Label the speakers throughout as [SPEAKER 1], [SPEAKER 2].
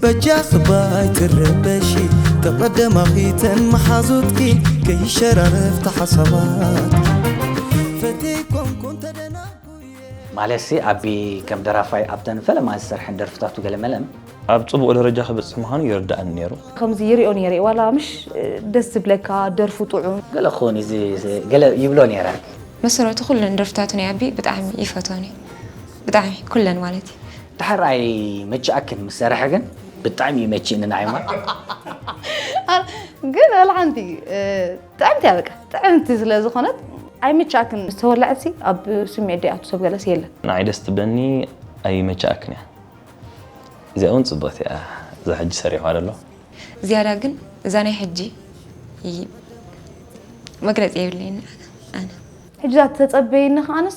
[SPEAKER 1] በጃኺ ባይ ትረበሺ ከቐደማኺ ተን መሓዙትኪ ከይሸራረፍቲ ሓሳባትኪ ፈትየይ ኮንኩን ተደናጉየ ማለትሲ
[SPEAKER 2] ኣቢ ከም ደራፋይ ኣብተን ፈለማ ዝሰርሐን ደርፍታቱ ገለመለን ኣብ ጽቡቕ ደረጃ
[SPEAKER 3] ክበጽሕ ምዃኑ ይርድኣኒ ነይሩ። ከምዚ ይሪኦ ነይረ
[SPEAKER 4] ዋላ ምሽ ደስ ዝብለካ ደርፉ ጥዑም ገለ ክኸውን እዩ ዝ-
[SPEAKER 2] ገለ ይብሎ ነይረ ብመሰረቱ ኩለን
[SPEAKER 5] ደርፍታቱ ናይ ኣቢ ብጣዕሚ ይፈትወን እየ ብጣዕሚ ኩለን ማለት እዩ። ድሓር
[SPEAKER 2] ኣይመችኣክን ምስ ሰረሐ ግን ብጣዕሚ ይመችእኒ ንዓይ እሞ
[SPEAKER 4] ግን ወላ ሓንቲ ጥዕምቲ እያ በቃ ጥዕምቲ ስለ ዝኾነት ኣይምችኣክን ምስ ተወላዕሲ ኣብ ስምዒት ዲኣ ትሰብ ገለስ የለን ንዓይ ደስ ትብለኒ
[SPEAKER 3] ኣይመችኣክን እያ እዚኣ እውን ፅብቕቲ እያ እዛ ሕጂ ሰሪሕዋ ዘሎ ዝያዳ ግን
[SPEAKER 5] እዛ ናይ ሕጂ መግለፂ የብለይን ኣነ ሕጂ እዛ
[SPEAKER 4] ተፀበየኒ ከዓንስ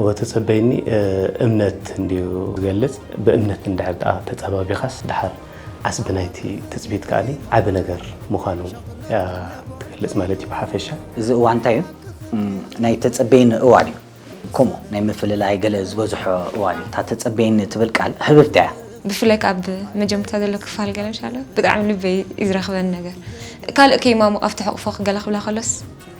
[SPEAKER 2] እወ ተጸበይኒ
[SPEAKER 6] እምነት እንድዩ ዝገልጽ ብእምነት እንድሕር ደኣ ተጸባቢኻስ ደሓር ዓስቢ ናይቲ ትጽቢት ከኣ ዓቢ ነገር ምዃኑ እያ ትገልጽ ማለት እዩ ብሓፈሻ። እዚ እዋ እንታይ እዩ
[SPEAKER 2] ናይ ተጸበይኒ እዋን እዩ ከምኡ ናይ ምፍልላይ ገለ ዝበዝሖ እዋን እዩ እታ ተጸበይኒ ትብል ቃል ህብብቲ እያ። ብፍላይ ከኣ ኣብ
[SPEAKER 5] መጀምርታ ዘሎ ክፋል ገለ ሻላ ብጣዕሚ ልበይ እዩ ዝረኽበኒ ነገር ካልእ ከይማሙቕ ኣብቲ ሕቕፎ ገለ ክብላ ከሎስ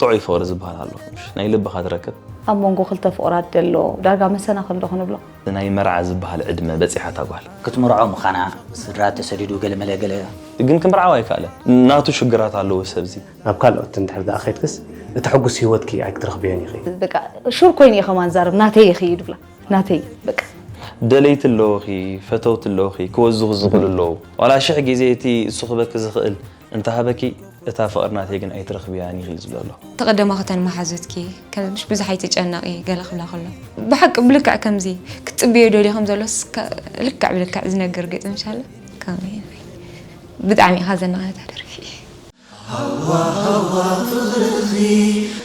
[SPEAKER 3] ጥዑይ ፍቕሪ ዝበሃል ኣሎ ናይ ልብኻ ትረክብ። ኣብ መንጎ ክልተ
[SPEAKER 4] ፍቑራት ዘሎ ዳርጋ መሰናኽል ዶ ክንብሎ? ናይ መርዓ ዝበሃል
[SPEAKER 3] ዕድመ በጺሓ እታ ጓል። ክትምርዖ ምኻና፣
[SPEAKER 2] ስድራ ተሰዲዱ ገለመለ ገለ። ግን ክምርዓው
[SPEAKER 3] ኣይከኣለን። ናቱ ሽግራት ኣለዎ እዚ ሰብዚ። ናብ ካልኦት እንድሕር
[SPEAKER 6] ደኣ ኬድክስ እቲ ሕጉስ ህይወትኪ ኣይክትረኽብዮን ኢኺ። በቃ ሹር ኮይነ
[SPEAKER 4] እየ ከማን ዝዛረብ ናተይ ኢኺ እዩ ድብላ። ናተይ በቃ። ደለይቲ
[SPEAKER 3] ኣለውኺ፣ ፈተውቲ ኣለውኺ፣ ክወዝኹ ዝኽእሉ ኣለዉ። ዋላ ሽሕ ግዜ እቲ እሱ ክበኪ ዝኽእል። እንተሃበኪ እታ ፍቕሪ ናተይ ግን ኣይትረኽብያን ኢኺ ዝብሎ ኣሎ። እቲ ቀደማ ክተን
[SPEAKER 5] መሓዙትኪ ከምሽ ብዙሕ ኣይትጨነቒ ገለ ክብላ ከሎ ብሓቂ ብልክዕ ከምዚ ክትጽብዮ ደልዮ ከም ዘሎስ ልክዕ ብልክዕ ዝነግር ግጥም ሻለ ከምዚ ብጣዕሚ ኢኻ ዘናቕታ ደርፊ ሃዋ
[SPEAKER 1] ሃዋ ፍቕርኺ